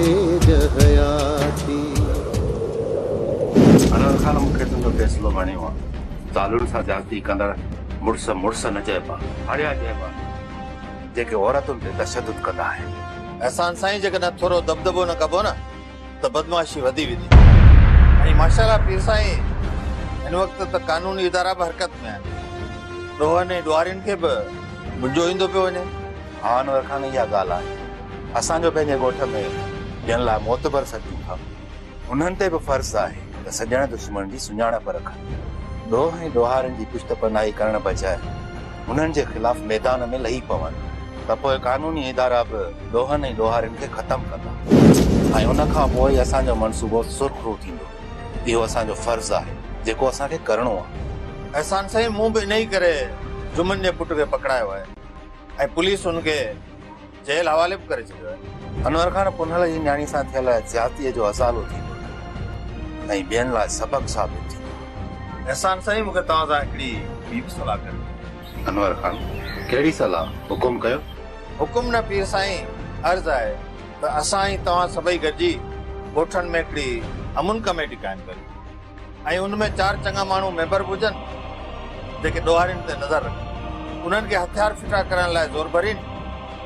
تيج حياتي. انور خان مون کي تنهنجو فيصلو وڻيو آ. زالن سان زيادتي ڪندڙ مڙس مڙس نه چئبا. هاڙيا چئبا جيڪي عورتن تي تشدد ڪندا آهن. احسان سائين جيڪڏهن ٿورو دٻدٻو نه ڪبو نه ته بدمعاشي وڌي ويندي. ۽ ماشاءالله پير سائين هن وقت ته قانوني ادارا به حرڪت ۾ آهن. ڏوهن ۽ ڏوهارين کي به منجهو ايندو پيو وڃي. اوهان ور کان اها ڳالهه آهي. اسان جو پنهنجي ڳوٺ ۾ جن لاء معتبر سڏيون ٿا، انهن تي به فرض آهي ته سڄڻ دشمڻ جي سڃاڻپ رکن. ڏوهه ۽ ڏوهارين جي پشت پناهي ڪرڻ بجاء انهن جي خلاف ميدان ۾ لهي پون ته پوء قانوني ادارا به ڏوهن ۽ ڏوهارين کي ختم ڪندا ۽ ان کان پوء ئي اسان جو منصوبو سرخ روء ٿيندو. اهو اسان جو فرض آهي، جيڪو اسان کي ڪرڻو آهي. احسان سائين مون به انهيء ڪري جمن جي پٽ کي پڪڙايو آهي. ۽ پوليس هن کي جيل حوالي به ڪري ڇڏيو آهي. انور خان پنهل جي نياڻي سان ٿيل زيادتيء جو ازالو ٿيندو ۽ ٻين لاء سبق ثابت ٿيندو. احسان سائين مون کي توهان سان هڪڙي ٻي به صلاح ڪرڻي هئي. انور خان ڪهڙي صلاح؟ حڪم ڪيو. حڪم نه پير سائين عرض آهي ته اسان ۽ توهان سڀئي گڏجي ڳوٺن ۾ هڪڙي امن ڪميٽي قائم ڪريون. ۽ ان ۾ چار چڱا ماڻهو ميمبر به هجن، جيڪي ڏوهارين تي نظر رکن، انهن کي هٿيار ڦٽا ڪرڻ لاء زور ڀرين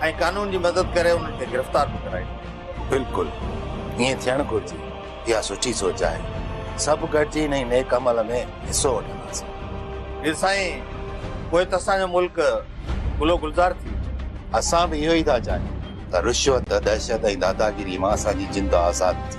۽ قانون جي مدد ڪري انهن کي گرفتار به ڪرائين. بلڪل ائين ٿيڻ گهرجي. اها سٺي سوچ آهي. سڀ گڏجي انهي نيڪ عمل ۾ حصو وٺنداسين. مير سائين، پوء ته اسان جو ملڪ گل و گلزار ٿي. اسان به اهو ئي ٿا چاهيون ته رشوت، دهشت ۽ داداگيريء مان اسان جي جند آزاد ٿي.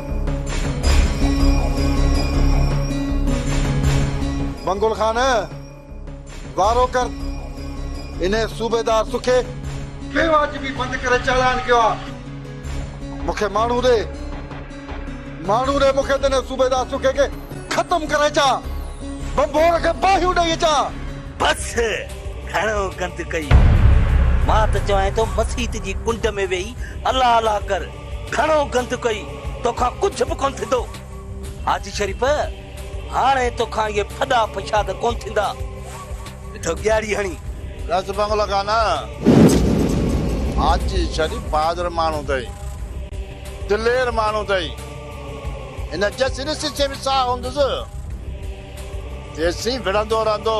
منگول خان! وارو ڪر انهيء صوبيدار سکي! بي واجبي بند ڪري چالان ڪيو آ. مون کي ماڻهو ڏي. ماڻهو ڏي مون کي ته انهيء صوبيدار سکي کي ختم ڪري اچان. ڀنڀور کي باهيون ڏئي اچان. بس! گهڻو گند ڪئي. مان ته چوانء ٿو مسيت جي ڪنڊ ۾ ويهي الله الله ڪر. گهڻو گند ڪئي، توکان ڪجهه به ڪونه ٿيندو. حاجي شريف، هاڻي توکان اهي ڦڏا فشاد ڪونه ٿيندا. اٿو ڳياڙي هڻي. ڏس بنگلو ڪا نه. حاجي شريف بهادر ماڻهو اٿئي. دلير ماڻهو اٿئي. هن جيسين ڏسي سين به ساهه هوندس، تيسين وڙهندو رهندو.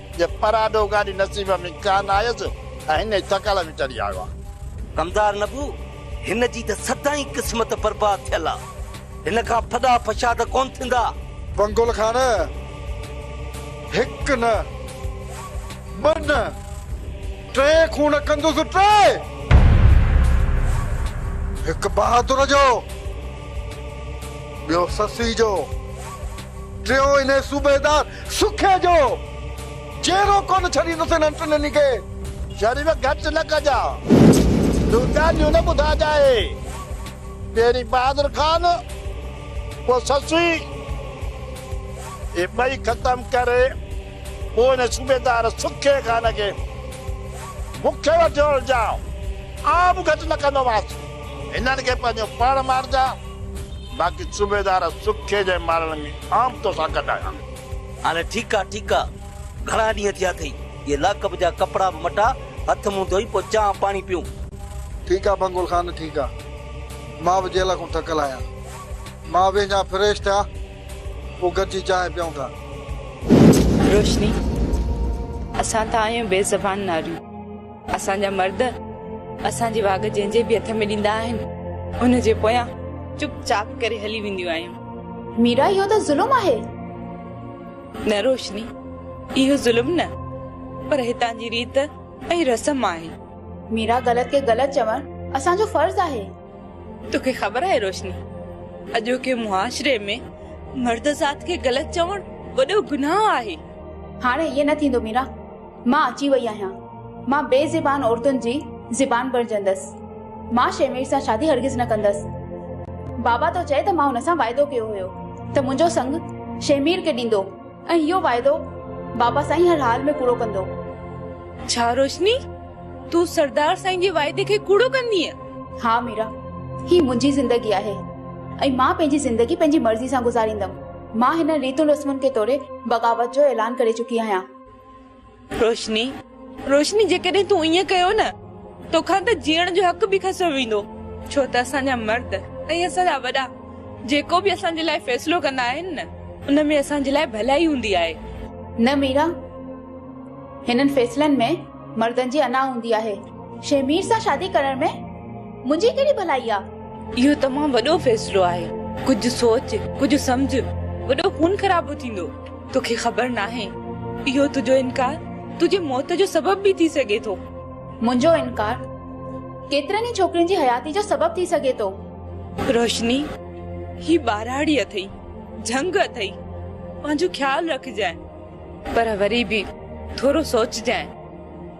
جي پراڏو گاڏي نصيب ۾ ڪا نه آيس ۽ هن ئي ٿڪل ۾ چڙهي آيو آ. غمدار نبو، هن جي ته سدائين قسمت برباد ٿيل آ. هن کان ڦڏا فشا ته ڪونه ٿيندا. بنگل خان، هڪ نه، ٻه نه، ٽي خون ڪندس، ٽي! هڪ بهادر جو، ٻيو سسئي جو. ٽيون انهي صوبيدار سکي جو جيرو ڪونه ڇڏيندس انهن ٽنهي کي. شريف گهٽ نه ڪجاء تون ڳالهيون نه ٻڌاجاء پهرين بهادر خان پوء سسئي اهي ٻئي ختم ڪر پوء انهي صوبيدار سکي خان کي مون کي وٺيو هلجاء آء به گهٽ نه ڪندومانس. هنن کي پنهنجو پاڻ مارجاء، باقي صوبيدار سکي جي مارڻ ۾ عام تو سان گڏ آهيان. هاڻي ٺيڪ آ ٺيڪ آ، گهڻا ڏينهن ٿيا اٿئي، اهي لاڪپ جا ڪپڙا به مٽاء، هٿ منهن ڌوئي پوء چانهه پاڻي پيئون. ٺيڪ آ بنگول خان ٺيڪ آ، مان به جيل کون ٿڪل آهيان، مان ويهه جان فريش ٿيا پوء گڏجي چانهه پيئون ٿا. روشني، اسان ته آهيون بي زبان ناريون. اسان جا مرد اسان جي واڳ جنهن جي به هٿ ۾ ڏيندا آهن ان جي پويان چپ چاپ ڪري هلي وينديون آهيون. ميرا اهو ته ظلم آهي. نه روشني اهو ظلم نه پر هتان جي ريت ۽ رسم آهي. ميرا غلط کي غلط چوڻ اسان جو فرض آهي. توکي خبر آهي روشني اڄوڪي معاشري ۾ مرد ذات کي غلط چوڻ وڏو گناهه آهي. هاڻي ائين نه ٿيندو ميرا. مان اچي وئي آهيان. مان بي زبان عورتن جي زبان بڻجندس. مان شيمير سان شادي هرگز نه ڪندس. بابا ٿو چئي ته مان هن سان واعدو ڪيو هيو ته منهنجو سڱ شيمير کي ڏيندو ۽ اهو واعدو بابا سائين هر حال ۾ ڪوڙو ڪندو. ڇا روشني! تون سردار سائين جي واعدي کي ڪوڙو ڪندينء؟ ها ميرا! هي منهنجي زندگي آهي ۽ مان پنهنجي زندگي پنهنجي مرضي سان گذاريندم. مان هنن ريتن رسمن کي ٽوڙي بغاوت جو اعلان ڪري چڪي آهيان. روشني، روشني جيڪڏهن تون ائين ڪيو نه توکان ته جيئڻ جو حق به کسيو ويندو، ڇو ته اسان جا مرد ۽ اسان جا وڏا جيڪو به اسان جي لاء فيصلو ڪندا آهن نه ان ۾ اسان جي لاء ڀلائي هوندي آهي. نه ميرا، هنن فيصلن ۾ مردن جي انا هوندي آهي. شهمير سان شادي ڪرڻ ۾ منهنجي ڪهڙي ڀلائي آ؟ اهو تمام وڏو فيصلو آهي، ڪجهه سوچ ڪجهه سمجهه، وڏو خون خرابو ٿيندو. توکي خبر ناهي اهو تنهنجو انڪار تنهنجي موت جو سبب به ٿي سگهي ٿو. منهنجو انڪار ڪيترن ئي ڇوڪرين جي حياتي جو سبب ٿي سگهي ٿو. روشني هي ٻهراڙي اٿئي جهنگ اٿئي پنهنجو خيال رکجانء پر وري به ٿورو سوچجانء.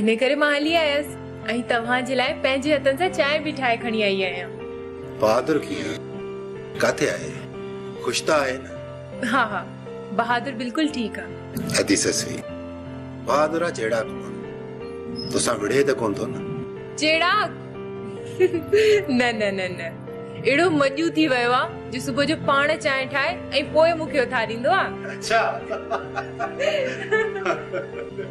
ان ڪري مان هلي آيس ۽ توهان جي لاء پنهنجي هٿن سان چانهه به ٺاهي کڻي آئي آهيان. بهادر ڪيئن ڪاٿي آهي؟ خوش ته آهي نه؟ ها ها بهادر بلڪل ٺيڪ آ. ادي سسئي! بهادرا چيڙاڪ مان توسان وڙهي ته ڪونه ٿو نه؟ چيڙاڪ؟ نه نه نه نه اهڙو مڄون ٿي ويو آ جو صبح جو پاڻ چانهه ٺاهي ۽ پوء مون کي اٿاريندو آ. اڇا!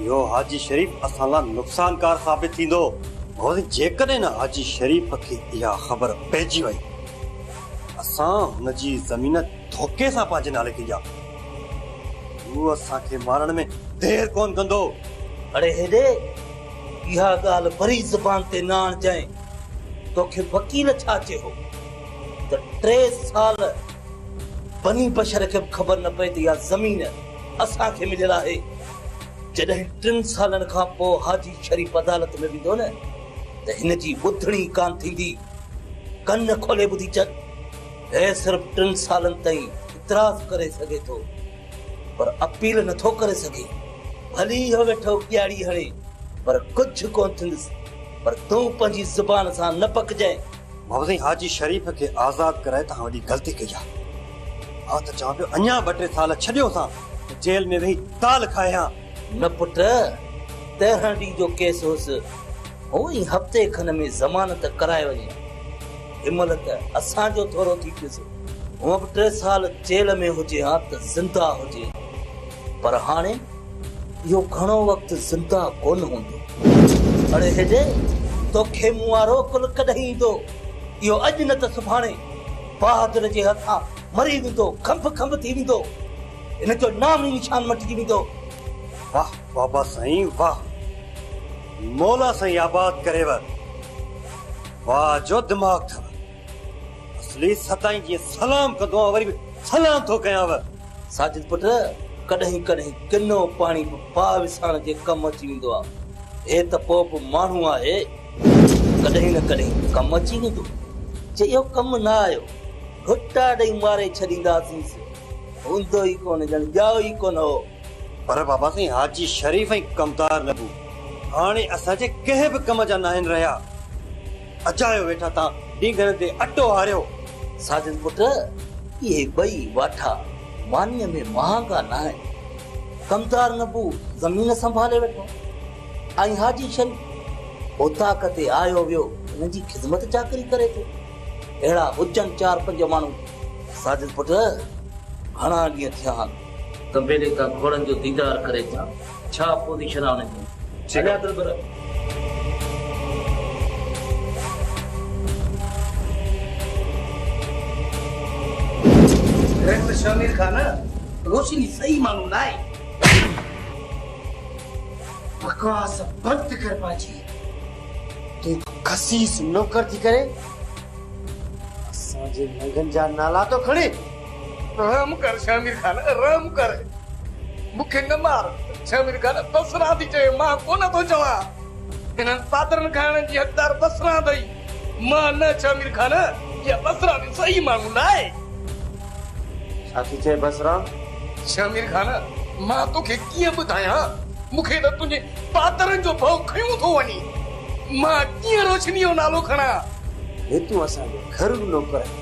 اهو حاجي شريف اسان لاء نقصانڪار ثابت ٿيندو. واري جيڪڏهن نه حاجي شريف کي اها خبر پئجي وئي ته اسان هن جي زمين ڌوڪي سان پنهنجي نالي ٿي ڏيا هو اسان کي مارڻ ۾ دير ڪونه ڪندو. اڙي هيڏي، اها ڳالهه وري زبان تي نه آڻجانء. توکي وڪيل ڇا چيو ته ٽي سال بني بشر کي به خبر نه پئي ته اها زمين اسان کي مليل آهي جڏهن ٽن سالن کان پوء حاجي شريف عدالت ۾ ويندو نه ته هن جي ٻڌڻي ئي ڪانه ٿيندي. ڪن کولي ٻڌي چڪ، هي صرف ٽن سالن تائين اعتراض ڪري سگهي ٿو پر اپيل نه ٿو ڪري سگهي. ڀلي اهو ويٺو ڪياڙي هڻي پر ڪجهه ڪونه ٿيندس پر تون پنهنجي زبان سان نه پڪجانء. ڀائو سائين حاجي شريف کي آزاد ڪرائي توهان وڏي غلطي ڪئي آ. آء ته چوان پيو اڃان ٻه ٽي سال ڇڏيو سان ته جيل ۾ ويهي دال کائي هان. نه پٽ، تيرهن ڏينهن جو ڪيس هوس، هونء ئي هفتي کن ۾ ضمانت ڪرائي وڃي ها. ان مهل ته اسان جو ٿورو ٿي پيس، هونء به ٽي سال جيل ۾ هجي ها ته زنده هجي ها. پر هاڻي؟ اهو گهڻو وقت زنده ڪونه هوندو. اڙي هيڊي، توکي مون وارو عقل ڪڏهن ايندو؟ اهو اڄ نه ته سڀاڻي بهادر جي هٿان مري ويندو، کنڀ کنڀ ٿي ويندو. هن جو نام ئي نشان مٽجي ويندو. واهه بابا سائين واهه. مولا سائين آباد ڪريوء. واهه جو دماغ اٿئو. اصلي ستائين جيئن سلام ڪندو آهيان وري به سلام ٿو ڪيانو. ساجد پٽ ڪڏهن ڪڏهن ڪنو پاڻي به پاء وساڻ جي ڪم اچي ويندو آهي. هي ته پوء به ماڻهو آهي ڪڏهن نه ڪڏهن ته ڪم اچي ويندو. جي اهو ڪم نه آيو گهٽا ڏئي ماري ڇڏينداسينس. هوندو ئي ڪونه ڄڻ ڄائو ئي ڪونه هو. پر بابا سائين حاجي شريف ۽ ڪمدار نبو هاڻي اسان جي ڪنهن به ڪم جا ناهن رهيا. اجايو ويٺا ٿا ڊينگهن تي اٽو هاريو. ساجن پٽ اهي ٻئي واٺا مانيء ۾ مهانگا ناهن. ڪمدار نبو زمين سنڀالي ويٺو ۽ حاجي شريف اوطاق تي آيو ويو هن جي خدمت چاڪري ڪري ٿو. اهڙا هجن چار پنج ماڻهو. ساجن پٽ گهڻا ڏينهن ٿيا آهن. ڪمبيلي تان گهوڙن جو ديدار ڪري اچان. ڇا اپوزيشن آهي انهن جي اڃا ته پر. ڊائريڪٽر شامير خان روشني صحيح ماڻهو نه آهي. بڪواس بند ڪر پاڇي تون به خسيس نوڪر ٿي ڪري اسان جي ننگن جا نالا ٿو کڻين. رحم ڪر شهمير خان رحم ڪر مون کي نه مار شهمير خان بسران ٿي چوي مان ڪونه ٿو چوان هنن پادرن کائڻ جي حقدار بسران اٿئي مان نه شهمير خان اها بسران جي صحيح ماڻهو نه آهي. ڇا ٿي چئي بسران؟ شهمير خان مان توکي ڪيئن ٻڌايان مون کي ته تنهنجي پادرن جو ڀؤ کنيون ٿو وڃي مان ڪيئن روشني جو نالو کڻان. هي تون اسان جو گهرو نوڪر آهين.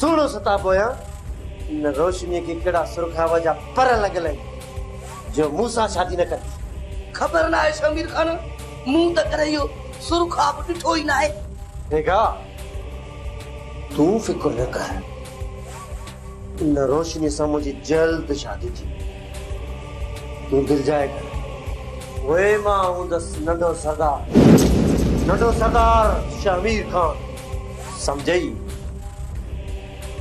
سهڻو ستا پويان ان روشنيء کي ڪهڙا سرخاب جا پر لڳل آهن، جو مون سان شادي نه ڪندي؟ خبر ناهي شهمير خان، مون ته ڪڏهن اهو سرخاب ڏٺو ئي ناهي. بيگا، تون فڪر نه ڪر، ان روشنيء سان منهنجي جلد شادي ٿيندي. تون دلجاء ڪر، پوء مان هوندس ننڍو سردار. ننڍو سردار شهمير خان سمجهيئي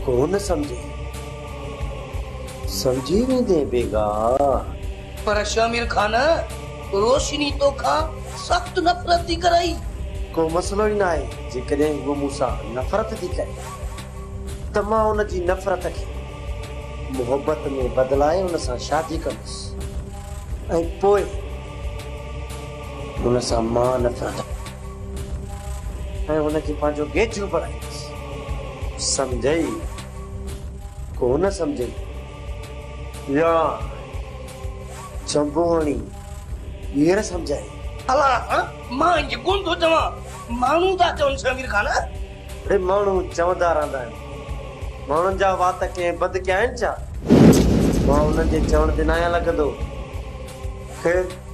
ڪونه سمجهي. سمجهي ويندين بيگاه. پر شامير خان روشني توکان سخت نفرت ٿي ڪرئي. ڪو مسئلو ئي ناهي جيڪڏهن هوء مون سان نفرت ٿي ڪري ته مان ان جي نفرت کي محبت ۾ بدلائي ان سان شادي ڪندس ۽ پوء. ان سان مان نه پيو ٿڪان ۽ ان کي پنهنجو گيچو بڻايس. سمجهيئي ڪو نه سمجهيئي. يار جنبو هڻي ٻيهر سمجهيائين. الا هاڻ مان ائين ڪونه ٿو چوان. ماڻهو ٿا چون سي امير خان. اڙي ماڻهو چوندا رهندا آهن. ماڻهن جا وات ڪنهن بد ڪيا آهن ڇا؟ مان انهن جي چوڻ تي ناهيان لڳندو. خير.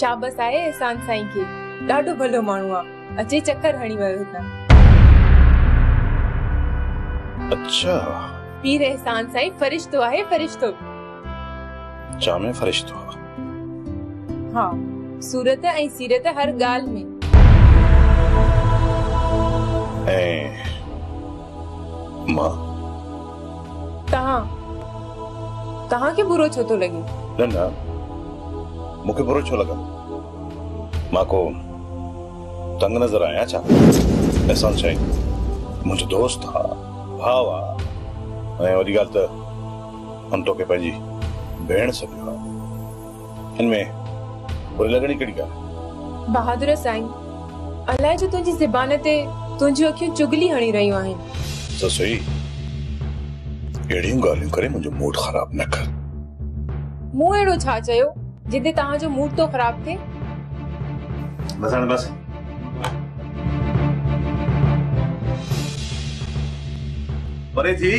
شابس آهي احسان سائين کي ڏاڍو ڀلو ماڻهو آ اچي چڪر هڻي ويو هتان. اڇا. پير احسان سائين فرشتو آهي فرشتو. چا ۾ فرشتو آ. ها صورت ۽ سيرت هر ڳالهه ۾. ۽ مان. توهان توهان کي برو ڇو ٿو لڳي؟ نه نه مون کي برو ڇو لڳندو؟ مان ڪو تنگ نظر آهيان ڇا؟ احسان سائين منهنجو دوست آ، ڀاء آ ۽ وڏي ڳالهه ته هن توکي پنهنجي ڀيڻ سڏيو آ. هن ۾ بري لڳڻ جي ڪهڙي ڳالهه آهي؟ بهادر سائين! الائي ڇو تنهنجي زبان تي تنهنجيون اکيون چغلي هڻي رهيون آهن. سسئي! اهڙيون ڳالهيون ڪري منهنجو موڊ خراب نه ڪر. مون اهڙو ڇا چيو جنهن تي توهان جو موڊ ٿو خراب ٿئي؟ بس هاڻي بس. مري ٿي.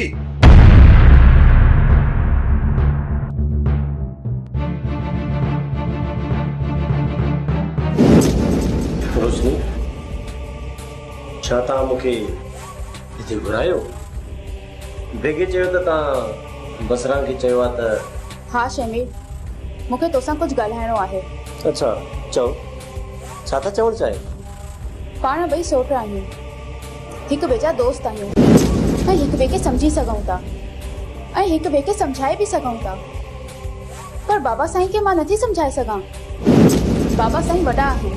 روشني، ڇا توهان مون کي هتي گهرايو؟ بيگهي چيو ته توهان بصران کي چيو آهي ته. ها شهمير، مون کي توسان ڪجهه ڳالهائڻو آهي. اڇا، چئو، ڇا ٿا چوڻ چاهيو؟ پاڻ ٻئي سوٽ آهيون. هڪ ٻئي جا دوست آهيون ۽ هڪ ٻئي کي سمجهي سگهون ٿا ۽ هڪ ٻئي کي سمجهائي به سگهون ٿا پر بابا سائين کي مان نٿي سمجهائي سگهان. بابا سائين وڏا آهن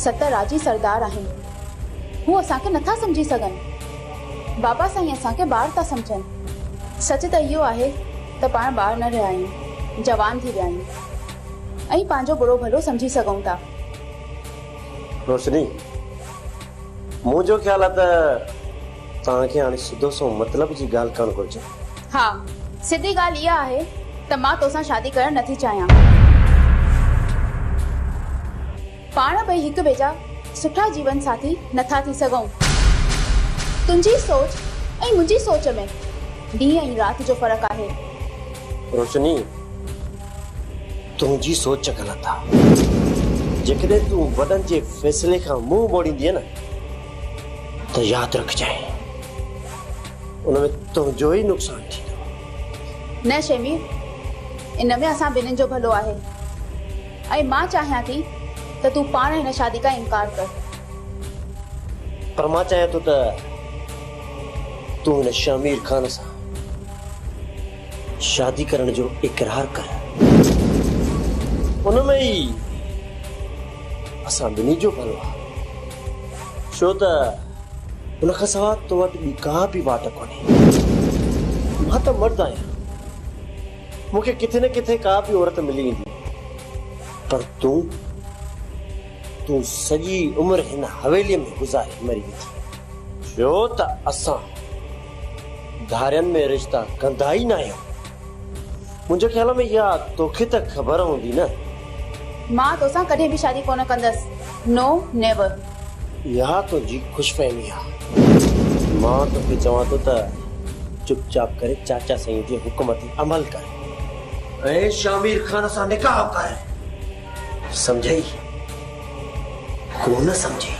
ست راضي سردار آهن هو اسان کي نٿا سمجهي سگهن بابا سائين اسان کي ٻار ٿا سمجهن سچ ته اهو آهي ته پاڻ ٻار نه رهيا آهيون جوان ٿي ويا آهيون ۽ پنهنجو برو ڀلو سمجهي سگهون ٿا. روشني. منهنجو خيال آ ته توهان کي هاڻي سڌو سنئون مطلب جي ڳالهه ڪرڻ گهرجي. ها، سڌي ڳالهه اها آهي ته مان توسان شادي ڪرڻ نٿي چاهيان. پاڻ ٻئي هڪ ٻئي جا سٺا جيون ساٿي نٿا ٿي سگهون. تنهنجي سوچ ۽ منهنجي سوچ ۾ ڏينهن ۽ رات جو فرق آهي. روشني! تنهنجي سوچ غلط آ. جيڪڏهن تون وڏن جي فيصلي کان منهن موڙيندينء نه ته ياد رکجانء ان ۾ تنهنجو ئي نقصان ٿيندو. نه شيمير، ان ۾ اسان ٻنهين جو ڀلو آهي ۽ مان چاهيان ٿي ته تون پاڻ هن شادي کان انڪار ڪر. پر مان چاهيان ٿو ته تون هن شيمير خان سان شادي ڪرڻ جو اقرار ڪر. ان ۾ ئي اسان ٻنهي جو ڀلو آهي. ڇو ته ان کان سواء تو وٽ ٻي ڪا به واٽ ڪونهي. مان ته مرد آهيان. مون کي ڪٿي نه ڪٿي ڪا به عورت ملي ويندي. پر تون؟ تون سڄي عمر هن حويليء ۾ گذاري مري ويندينء. ڇو ته اسان گهارين ۾ رشتا ڪندا ئي ناهيو. منهنجي خيال ۾ يا توکي ته خبر هوندي نه. مان توسان ڪڏهن به شادي ڪونه ڪندس نو نيور. اها تنهنجي خوش فهمي آ. مان توکي چوان ٿو ته چپ چاپ ڪري چاچا سائين جي حڪم تي عمل ڪر ۽ شامير خان سان نڪاح ڪر. سمجهيئي ڪونه سمجهيئي.